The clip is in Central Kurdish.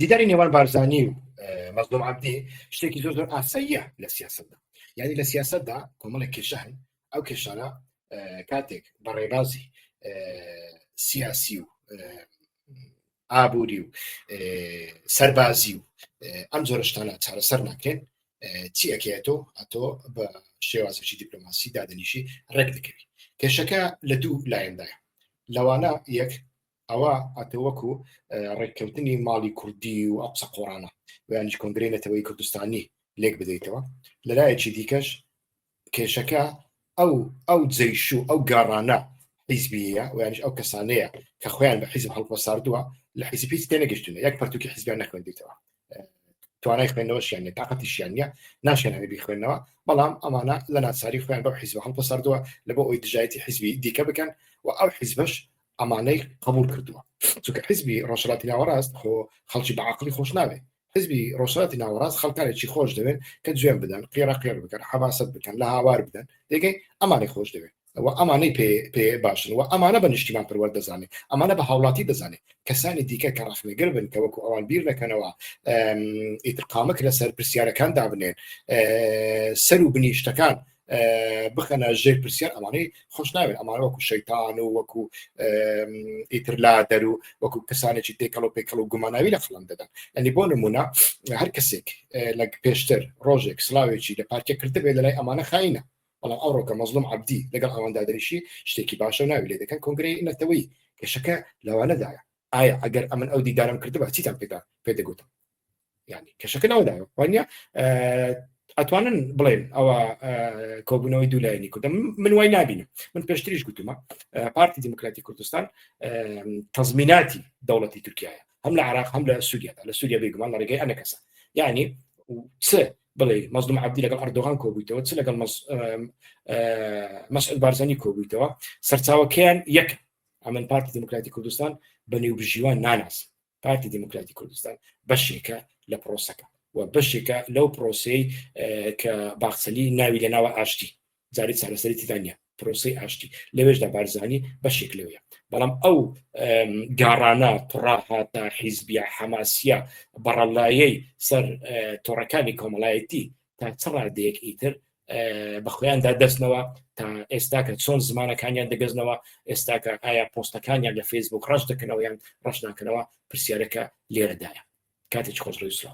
دیداری نێوان بارزانانی و مەزلوم عبدی شتێکی زۆر زۆر ئاساییە لە سیاستدا یعنی لە سیاستدا کۆمەڵێک کێشان ئەو کێشانە کاتێک بە ڕێبازی سیاسی و ئابووری و سەربازی و ئەم جۆرەشتانە چارەسەر ناکرێن چی ئەکێتەوە ئەتۆ بە شێوازێکی دیپلۆماسی دادنیشی ڕێک دەکەوی کێشەکە لە دوو لایەندایە لەوانە یەک ئەوە ئەتە وەکو ڕێککەوتنی ماڵی کوردی و ئەو قسە قۆڕانە ویانش کۆنگری نەتەوەی کوردستانی لێک بدەیتەوە لەلایەکی دیکەش کێشەکە ئەو ئەو جەیش و ئەو گاڕانە حیزبیە و یانش ئەو کەسانەیە کە خۆیان بە حیزب هەڵپەساردووە لە حیزب هیچ تێنەگەشتونە یەک پرتوکی حیزبیان نەخوێندیتەوە توانای خوێندنەوەشیان نیە تااقەتیشیان نیە ناشێنانی بیخوێندنەوە بەڵام ئەمانە لە ناچاری خوێن بەو حیزب هەڵپە سەردووە لە بۆ ئەوی دژایەتی حیزبی دیکە بکەن و ئەو حیزبش ئەمانەی قبول کردووە چونکە حیزبی ڕۆژراتی ناوەڕاست خۆ خەڵکی بەعقلی خۆش ناوێت حزبی ڕۆژاتی ناوەڕاست خەڵکانێکی خۆش دەوێن کە جوێن بدەن قێرە قێر بکەن حەماسەت بکەن لە هاوار بدەن دەگەی ئەمانی خۆش دەوێت و ئەمانەی پێ پێ باشن و ئەمانە بە نیشتیمان پەروەر دەزانێت ئەمانە بە هاوڵاتی دەزانێت کەسانی دیکە کە ڕخنەگر بن کە وەکو ئەوان بیر نەکەنەوە ئیتقامک لەسەر پرسیارەکان دابنێن سەر و بنیشتەکان بخەنە ژێر پرسیار ئەمانەی خۆش ناوێت ئەمانە وەکو شەیتان و وەکو ئیترلا دەر و وەکو کەسانێکی تێکەڵ و پێکەڵ و گوماناوی لە خڵم دەدەن ئەنی بۆ نمونە هەر کەسێک لە پێشتر ڕۆژێک سلااوێکی لە پارکێ کردبێت لە لای ئەمانە خینە بەڵام ئەوڕۆ کە مەزلوم عەبدی لەگەڵ ئەواندا دەریشی شتێکی باشە و ناوی لێ دەکەن کۆنگرەی نەتەوەی کێشەکە لەوانەدایە ئایا ئەگەر ئەمن ئەو دیدارم کردبا چیتان پێدا پێدەگوتم ینی کێشەکە ناودایە وانە ئەتوانن بڵێن ئەوە کۆبوونەوەی دوولایەنی کوردە من وای نبینم من پێشتریش گوتومە پارتی دیموکراتی کوردستان تەزمیناتی دەوڵەتی تورکایە هەم لە عراق هەم لە سووریادا لە سووریا بێگومان لە ڕێگەی ئەنە کەسە یعنی چ بڵێ مەزلوم عبدی لەگەڵ ئەردۆغان کۆبوویتەوە چ لەگەڵ مەسعود بارزانی کۆبوویتەوە سەرچاوەکەیان یەک ئەمن پارتی دموکراتی کوردستان بە نێوبژیوان ناناس پارتی دموکراتی کوردستان بەشێکە لە پرۆسەکە و بەشێکە لەو پرۆسی کە باخسەلی ناوی لە ناوە ئاشتی جاری چارەسەری تیدانە پرۆسی ئاشتی لەوێشدا بارزانانی بەشێک لەوەیە بەڵام ئەو گاڕانە پڕاهاتە حیزبیە حەماسیە بەڕەلایەی سەر تۆڕەکانی کۆمەڵایەتی تا چ ڕادەیەک ئیتر بە خۆیاندا دەستنەوە تا ئێستا کە چۆن زمانەکانیان دەگەزنەوە ئێستا کە ئایا پۆستەکانیان لە فەیسبوک ڕەش دەکەنەوە یان ڕەش ناکەنەوە پرسیارەکە لێرەدایە کاتێک خۆش ڕێسرا